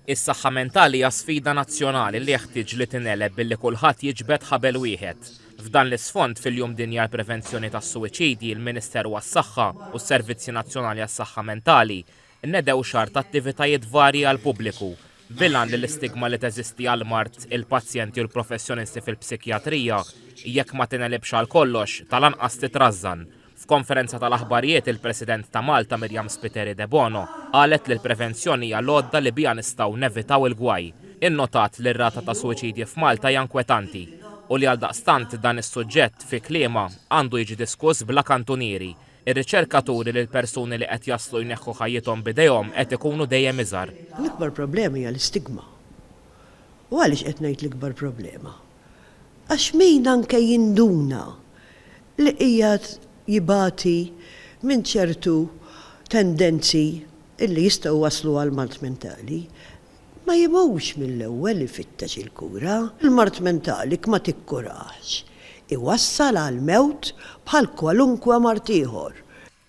Is-saħħa mentali hija sfida nazzjonali li jeħtieġ li tingħeleb billi kulħadd jiġbed ħabel wieħed. F'dan l-isfond, fil-Jum Dinji għall-Prevenzjoni tas-Suwiċidji, il-Ministeru għas-Saħħa u s-Servizzi Nazzjonali għas-Saħħa Mentali nnedew xahar ta' attivitajiet varji għall-pubbliku bil-għan li l-istigma li teżisti għall-mard, il-pazjenti u l-professjonisti fil-psikjatrija, jekk ma tingħelibx għal kollox, tal-anqas titrażżan. F'konferenza tal-aħbarijiet il-President ta' Malta Miriam Spiteri Debono qalet li l-prevenzjoni hija l-għodda li biha nistgħu nevitaw il-gwaj. Innotat li r-rata ta' suwiċidji f'Malta hija nkwetanti u li għaldaqstant dan is-suġġett, fi kliemha, għandu jiġi diskuss bla kantunieri. Ir-riċerka turi li l-persuni li qed jaslu jneħħu ħajjithom b'idejhom qed ikunu dejjem iżgħar. L-ikbar problema hija l-istigma. U għaliex qed ngħid l-ikbar problema? Għax min anke jinduna li qiegħed jibati minn ċertu tendenzi li jistgħu jwasslu għal mard mentali, ma jimux mill-ewwel ifittex il-kura. Il-mard mentali jekk ma tikkurahx iwassal għall-mewt bħal kwalunkwe mard ieħor.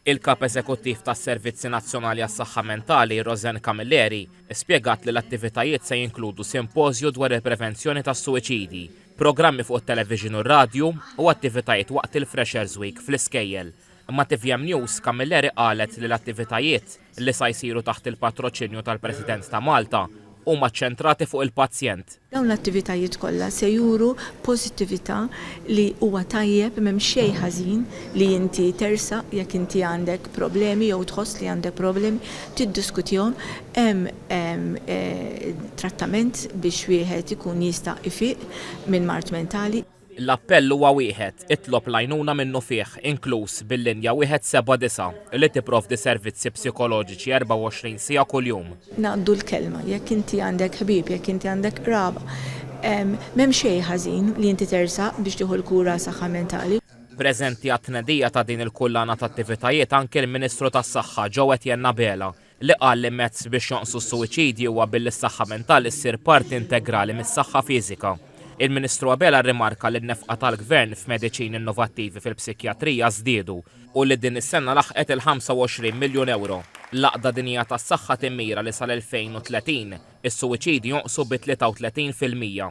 Il-Kap Eżekuttiv tas-Servizzi Nazzjonali għas-Saħħa Mentali, Roseanne Camilleri, spjegat li l-attivitajiet se jinkludu simpożju dwar il-prevenzjoni tas-suwiċidji, programmi fuq it-televixin u r-radju u attivitajiet waqt il-Freshers Week fl-iskejjel. Ma' tvm News, Camilleri qalet li l-attivitajiet, li sa jsiru taħt il-patroċinju tal-President ta' Malta, huma ċċentrati fuq il-pazjent. Dawn l-attivitajiet kollha se juru pożittività li huwa tajjeb m'hemm xejn ħażin li inti tersaq jekk inti għandek problemi jew tħoss li għandek problemi tiddiskutihom, hemm trattament biex wieħed ikun jista' jfiq minn mard mentali. L-appell huwa wieħed, itlob l-għajnuna minnufih, inkluż bil-linja wieħed seba' disa', li tipprovdi servizzi psikoloġiċi 24 siegħa kuljum. Ngħaddu l-kelma, jekk inti għandek ħbieb, jekk inti għandek qraba, m'hemm xejn ħażin li inti tersaq biex tieħu l-kura għas-saħħa mentali. Preżenti għat-tnedija ta' din il-kullana t'attivitajiet anki l-Ministru tas-Saħħa, Joe Etienne Abela, li qal li mezz biex jonqsu s-suwiċidji huwa billi s-saħħa mentali ssir parti integrali mis-saħħa fiżika. Il-Ministru Abela rrimarka li n-nefqa tal-Gvern f'mediċini innovattivi fil-psikjatrija żdiedu u li din is-sena laħqet il-25 miljun ewro. L-Għaqda Dinjija tas-Saħħa timmira li sal-2030, is-suwiċidji jonqsu bi 33 fil-mija.